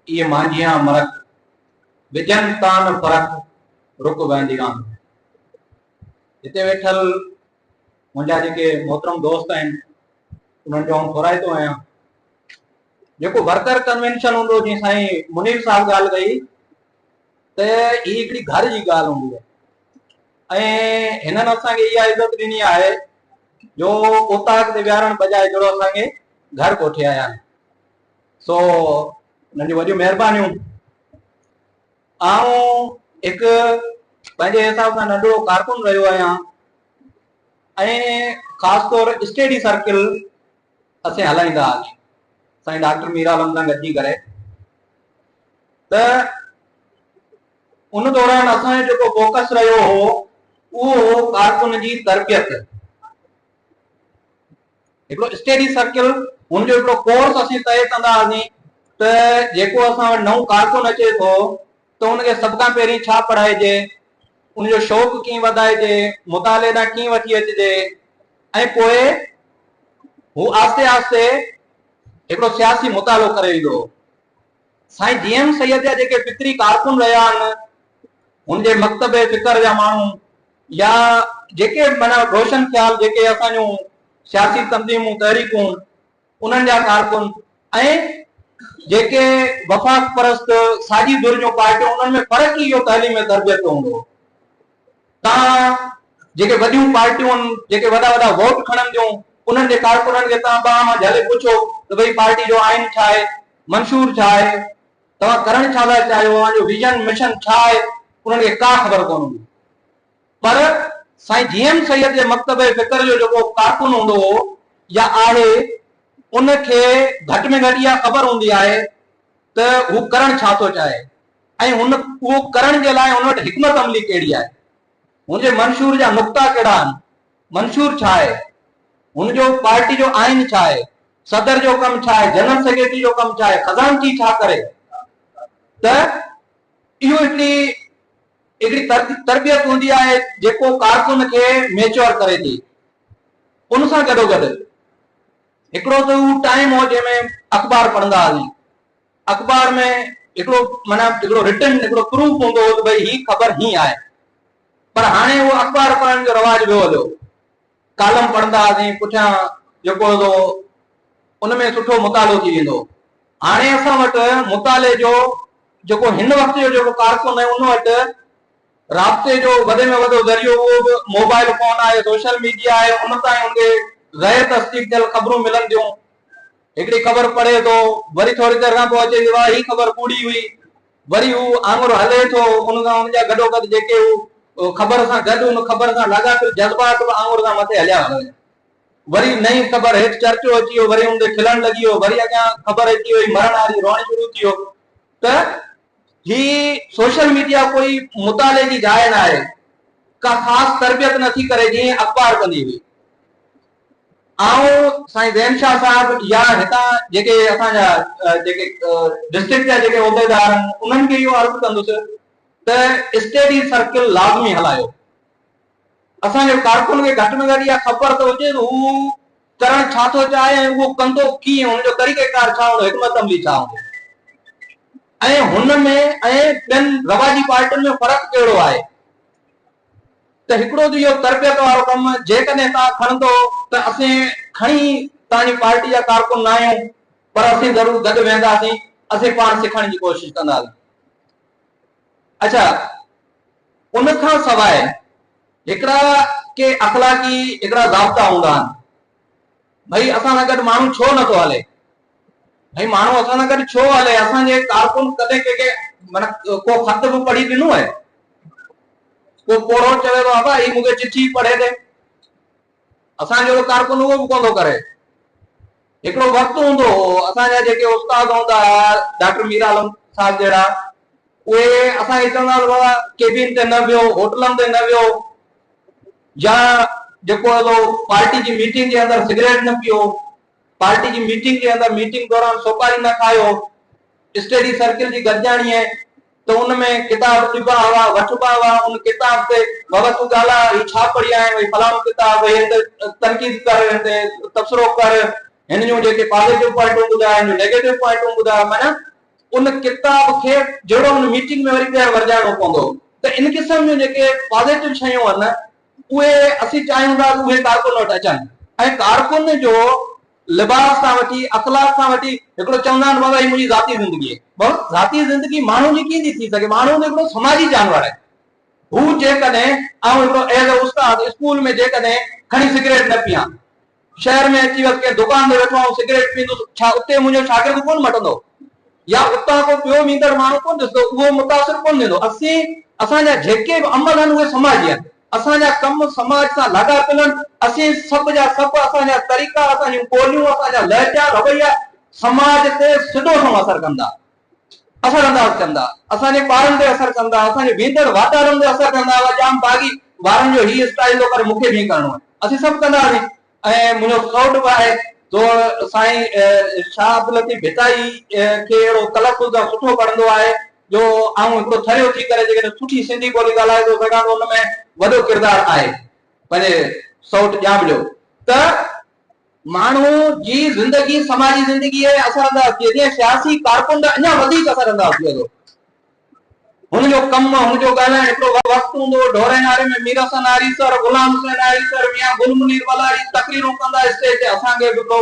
اي مانجهيان مرڪ، وجهن تان فرق رڪ ويندي آن. هتي ويٺل منهنجا جيڪي محترم دوست آهن انهن جو آئون ٿورائتو آهيان. جيڪو ورڪر ڪنوينشن هوندو جيئن سائين منير صاحب ڳالهه ڪئي ته هي هڪڙي گهر جي ڳالهه هوندي آهي ۽ هنن اسان کي اها عزت ڏني آهي جو اوطاق تي ويهارڻ بجاء جهڙو اسان کي گهر ڪوٺي آيا آهن. سو انهن جون وڏيون مهربانيون. آئون هڪ پنهنجي حساب سان ننڍڙو ڪارڪن رهيو آهيان ۽ خاص طور اسٽيڊي سرڪل اسين هلائيندا هئاسين سائين ڊاڪٽر مير عالم سان گڏجي ڪري ته ان دوران اسان جو جيڪو فوڪس رهيو هو اهو هو ڪارڪن جي تربيت هڪڙو اسٽيڊي سرڪل هن جو هڪڙو ڪورس اسين طئي ڪندا هئاسين ته جيڪو اسان وٽ نئون ڪارڪن اچي ٿو ته ان کي سڀ کان پهرين ڇا پڙهائجي، ان جو شوق ڪيئن وڌائجي، مطالعي ڏانهن ڪيئن وٺي اچجي ۽ پوء هو آهستي آهستي هڪڙو سياسي مطالعو ڪري ويندو هو. سائين جي ايم سيد جا جيڪي فڪري ڪارڪن رهيا آهن، هن جي مڪتب فڪر جا ماڻهو يا جيڪي به معنيٰ روشن خيال جيڪي اسان جون سياسي تنظيمون تحريڪون انهن جا ڪارڪن ۽ جيڪي وفاق پرست ساڄي ڌر جون پارٽيون انهن ۾ فرق ئي اهو تعليم ۽ تربيت جو هوندو هو. توهان جيڪي وڏيون پارٽيون جيڪي وڏا وڏا ووٽ کڻن ٿيون انهن جي ڪارڪنن کي توهان ٻانهن مان جهلي پڇو ته ڀئي پارٽي جو آئين ڇا آهي منشور ڇا آهي توهان ڪرڻ ڇا ٿا چاهيو اوهان جو ويزن مشن ڇا آهي انهن کي ڪا خبر ڪونه هوندي پر سائين جي ايم سيد جي مڪتبه فڪر جو جيڪو ڪارڪن هوندو هو يا آهي ان کي گهٽ ۾ گهٽ اها خبر هوندي آهي ته هو ڪرڻ ڇا ٿو چاهي ۽ هن اهو ڪرڻ جي لاء هن وٽ حڪمت عملي ڪهڙي آهي؟ هن جي منشور جا نقطا ڪهڙا آهن؟ منشور ڇا آهي؟ هن جو پارٽي جو آئين ڇا آهي؟ صدر جو ڪم ڇا آهي؟ جنرل سيڪريٽري جو ڪم ڇا آهي؟ خزانچي ڇا ڪري؟ ته اهو هڪڙي هڪڙي تربيت هوندي آهي جيڪو ڪارڪن کي ميچوئر ڪري ٿي. ان سان گڏوگڏ هڪڙو ته اهو ٽائيم هو جنهن ۾ اخبار پڙهندا هئاسين. اخبار ۾ هڪڙو معنيٰ هڪڙو رٽن هڪڙو پروف هوندو هو ته ڀئي هي خبر هين آهي پر هاڻي اهو اخبار پڙهڻ جو رواج ويو هليو ڪالم پڙهندا هئاسين پٺيان جيڪو هوندو هو ان ۾ سٺو مطالعو ٿي ويندو هو هاڻي اسان وٽ مطالعي جو جيڪو هن وقت جو جيڪو ڪارڪن آهي ان وٽ رابطي جو وڏي ۾ وڏو ذريعو اهو به موبائل فون آهي سوشل ميڊيا آهي ان تائين ان کي غير تصديق ٿيل خبرون ملن ٿيون هڪڙي خبر پڙهي ٿو، وري ٿوري دير کان پوء اچي ٿي واهه هي خبر ڪوڙي هئي، وري هو آڱر هلي ٿو، ان سان ان جا گڏوگڏ جيڪي هو خبر سان گڏ ان خبر سان لاڳاپيل جذبات به آڱر سان مٿي هليا ويا، وري نئين خبر هيٺ چرچو اچي ويو، وري ان تي کلڻ لڳي ويو، وري اڳيان خبر اچي وئي مرڻ واري روئڻ شروع ٿي ويو ته هي سوشل ميڊيا ڪوئي مطالعي جي جاء ناهي، ڪا خاص تربيت نٿي ڪري جيئن اخبار ڪندي هئي. آئون سائين زين شاهه صاحب يا هتان جيڪي اسان جا جيڪي ڊسٽرڪٽ جا جيڪي عهديدار آهن انهن کي اهو عرض ڪندس ته اسٽيڊي سرڪل لازمي هلايو. اسان جي ڪارڪن کي گهٽ ۾ گهٽ اها خبر ته هجي ته هو ڪرڻ ڇا ٿو چاهي ۽ اهو ڪندو ڪيئن، ان جو طريقه ڪار ڇا هوندو، حڪمت عملي ڇا هوندي ۽ هن ۾ ۽ ٻين رواجي پارٽين ۾ فرق ڪهڙو آهي. ته هڪڙو ته اهو تربيت وارو ڪم جيڪڏهن توهان کڻندو ته اسين کڻي توهان جي پارٽي جا ڪارڪن نه آهيون پر اسين ضرور گڏ ويهنداسين اسين پاڻ سکڻ جي ڪوشش ڪنداسين. اڇا ان کان سواء هڪڙا ڪي اخلاقي هڪڙا ضابطا هوندا آهن. ڀئي اسان سان گڏ ماڻهو ڇو نه ٿو هلي؟ ڀئي ماڻهو اسان سان گڏ ڇو هلي؟ اسان جي ڪارڪن ڪڏهن ڪنهن کي معنيٰ ڪو خط به پڙهي ڏنو آهي؟ ڪو پوڙهو چوي ٿو ابا هي مون کي چٺي پڙهي ڏي. اسان جهڙو ڪارڪن اهو به ڪونه ٿو ڪري. هڪڙو وقت هوندو هو اسان جا جيڪي استاد هوندا هئا ڊاڪٽر مير عالم صاحب جهڙا اهي اسان کي چوندا هئا ته بابا ڪيبين تي نه ويهو، هوٽلن تي نه ويهو، يا جيڪو اهو پارٽي جي ميٽنگ جي اندر سگريٽ نه پيئو، پارٽي جي ميٽنگ جي اندر ميٽنگ دوران سوپاري نه کايو، اسٽيڊي سرڪل جي گڏجاڻيء ته ان ۾ ڪتاب ڏبا هئا، وٺبا هئا، ان ڪتاب تي بابا تون ڳالهاء، هي ڇا پڙهيائين، هي فلاڻو ڪتاب، هي هن تي تنقيد ڪر، هن تي تبصرو ڪر، هن جون جيڪي پازيٽو پوائنٽون ٻڌاء، هن جون نيگيٽو پوائنٽون ٻڌاء، معنيٰ. ان ڪتاب کي جهڙو ان ميٽنگ ۾ وري ٻيهر ورجائڻو پوندو ته ان قسم جون جيڪي پازيٽو شيون آهن اهي اسين چاهيون ٿا ته اهي ڪارڪن وٽ اچن ۽ ڪارڪن جو لباس کان وٺي اخلاق کان وٺي هڪڙو چوندا آهن بابا هي منهنجي ذاتي زندگي آهي بابا ذاتي زندگي ماڻهو جي ڪيئن ٿي ٿي سگهي ماڻهو ته هڪڙو سماجي جانور آهي هو جيڪڏهن آئون هڪڙو ايز اي استاد اسڪول ۾ جيڪڏهن کڻي سگريٽ نه پيان شهر ۾ اچي وس ڪنهن دڪان تي ويٺو آهيون سگريٽ پيئندس ڇا اتي منهنجو شاگرد ڪونه مٽندو يا اتان ڪو ٻيو ويندڙ ماڻهو ڪونه ڏسندو اهو متاثر ڪونه ٿيندو اسين اسان جا جيڪي به عمل آهن اهي سماجي آهن اسان جا ڪم سماج سان لاڳاپيل آهن اسين سڀ جا سڀ اسان جا طريقا اسان جون ٻوليون اسان جا لهجا رويا سماج تي سڌو سنئون اثر ڪن ٿا اثر انداز ڪندا، اسان جي ٻارن تي اثر ڪندا، اسان جي ويندڙ واتارن تي اثر ڪندا، اها ڄام باغي وارن جو هي اسٽائيل ٿو پر مون کي به ائين ڪرڻو آهي، اسين سڀ ڪنداسين ۽ منهنجو ڪوٽ به آهي جو سائين شاهه عبداللطيف ڀٽائي کي اهڙو تلفظ ۽ سٺو پڙهندو آهي جو آئون هڪڙو ٿريو ٿي ڪري جيڪڏهن سٺي سنڌي ٻولي ڳالهائي ٿو سگهان ته ان ۾ وڏو ڪردار آهي پنهنجي سئوٽ ڄام جو ته ماڻهو جي زندگي سماجي زندگي تي اثر انداز ٿئي ٿي ۽ سياسي ڪارڪن به اڃا وڌيڪ اثر انداز ٿئي ٿو. هن جو ڪم، هن جو ڳالهائڻ هڪڙو وقت هوندو هو، ڍورين آري ۾ مير حسن آري سر، غلام حسين آري سر، ميان گل منير ولاري تقريرون ڪندا اسٽيج تي اسان کي به ڪو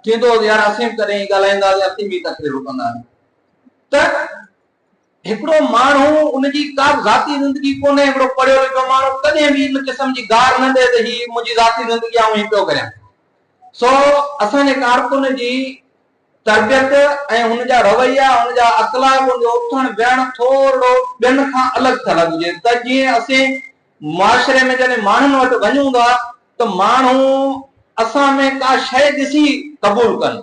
ٿيندو هو ته يار اسين به ڪڏهن ائين ڳالهائيندا هئاسين، اسين به ائين تقريرون ڪندا هئاسين ته هڪڙو ماڻهو ان جي ڪا به ذاتي زندگي ڪونهي، هڪڙو پڙهيو لکيو ماڻهو ڪڏهن به ان قسم جي گار نه ڏئي ته هي منهنجي ذاتي زندگي آئون هي پيو ڪريان. سو اسان جي ڪارڪن جي تربيت ۽ هن جا رويا، هن جا اخلاق، هن جو اٿڻ ويهڻ ٿورڙو ٻين کان الڳ ٿيل هجي ته جيئن اسين معاشري ۾ جڏهن ماڻهن وٽ وڃون ٿا ته ماڻهو اسان ۾ ڪا شيء ڏسي قبول ڪن.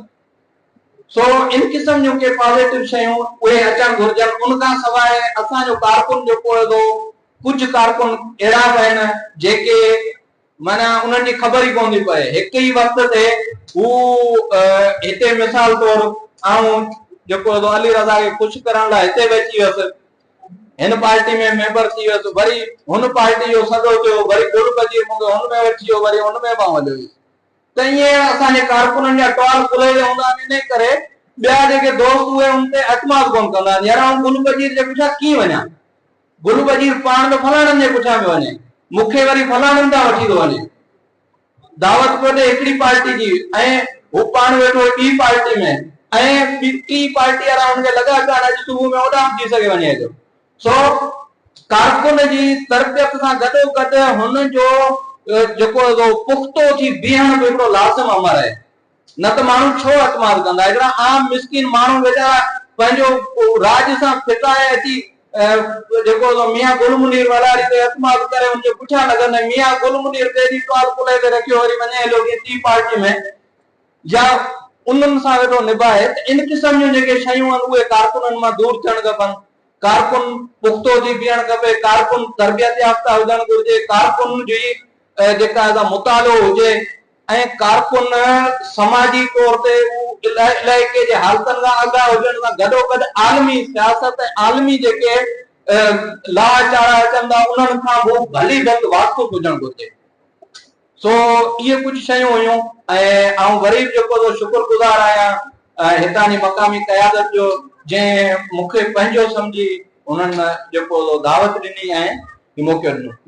سو ان قسم جون ڪي پازيٽو شيون اهي اچڻ گهرجن ان کان سواء اسان جو ڪارڪن جيڪو هيدو ڪجهه ڪارڪن اهڙا به آهن جيڪي معنيٰ انهن جي خبر ئي ڪونه ٿي پئي هڪ ئي وقت تي هو هتي مثال طور آئون جيڪو هيدو علي رضا کي خوش ڪرڻ لاء هتي به اچي ويس هن پارٽي ۾ ميمبر ٿي ويس وري هن پارٽي جو سڏو ٿيو وري گل بجي مونکي هن ۾ وٺي ويو وري هن ۾ به آئون هليو ويس ته ايئن اسان جي ڪارڪنن جا ٽوال ڪلهي جا هوندا آهن انهي ڪري ٻيا جيڪي دوست اهي ان تي اعتماد ڪونه ڪندا آهن يار آئون گل وزير جي پٺيان ڪيئن وڃان گل وزير پاڻ ته فلاڻن جي پٺيان پيو وڃي مون کي وري فلاڻن تان وٺي ٿو وڃي دعوت پيو ڏي هڪڙي پارٽي جي ۽ هو پاڻ ويٺو هو ٻي پارٽي ۾ ۽ ٽي پارٽي وارا هن کي لڳا پيا آهن اڄ صبح ۾ اوڏانهن به ٿي سگهي وڃي اچو سو ڪارڪن جي تربيت سان گڏوگڏ هن جو جيڪو پختو ٿي بيهڻ به هڪڙو لازم امر آهي. نه ته ماڻهو ڇو اعتماد ڪندا؟ هڪڙا عام مسڪين ماڻهو ويچارا پنهنجو راڄ سان ڦٽائي اچي جيڪو ميان گل منير ولاڻي تي اعتماد ڪري ان جي پٺيان لڳن ۽ ميان گل منير ڪيڏي ٽوال ڪلهي تي رکيو وري وڃي هليو ڪنهن ٽي پارٽي ۾ يا انهن سان ويٺو نڀائي ته ان قسم جون جيڪي شيون آهن اهي ڪارڪنن مان دور ٿيڻ کپن، ڪارڪن پختو ٿي بيهڻ کپي، ڪارڪن تربيت يافته هجڻ گهرجي، ڪارڪن جي جيڪا سا مطالعو هجي ۽ ڪارڪن سماجي طور تي اهو علائقي جي حالتن کان آگاهه هجڻ سان گڏوگڏ عالمي سياست ۽ عالمي جيڪي لاء چاڙها اچن ٿا انهن کان به ڀلي ڀت واقف هجڻ گهرجي. سو اهي ڪجهه شيون هيون ۽ آئون وري به جيڪو سو شڪر گذار آهيان هتان جي مقامي قيادت جو جنهن مون کي پنهنجو سمجهي هنن جيڪو سو دعوت ڏني ۽ موقعو ڏنو.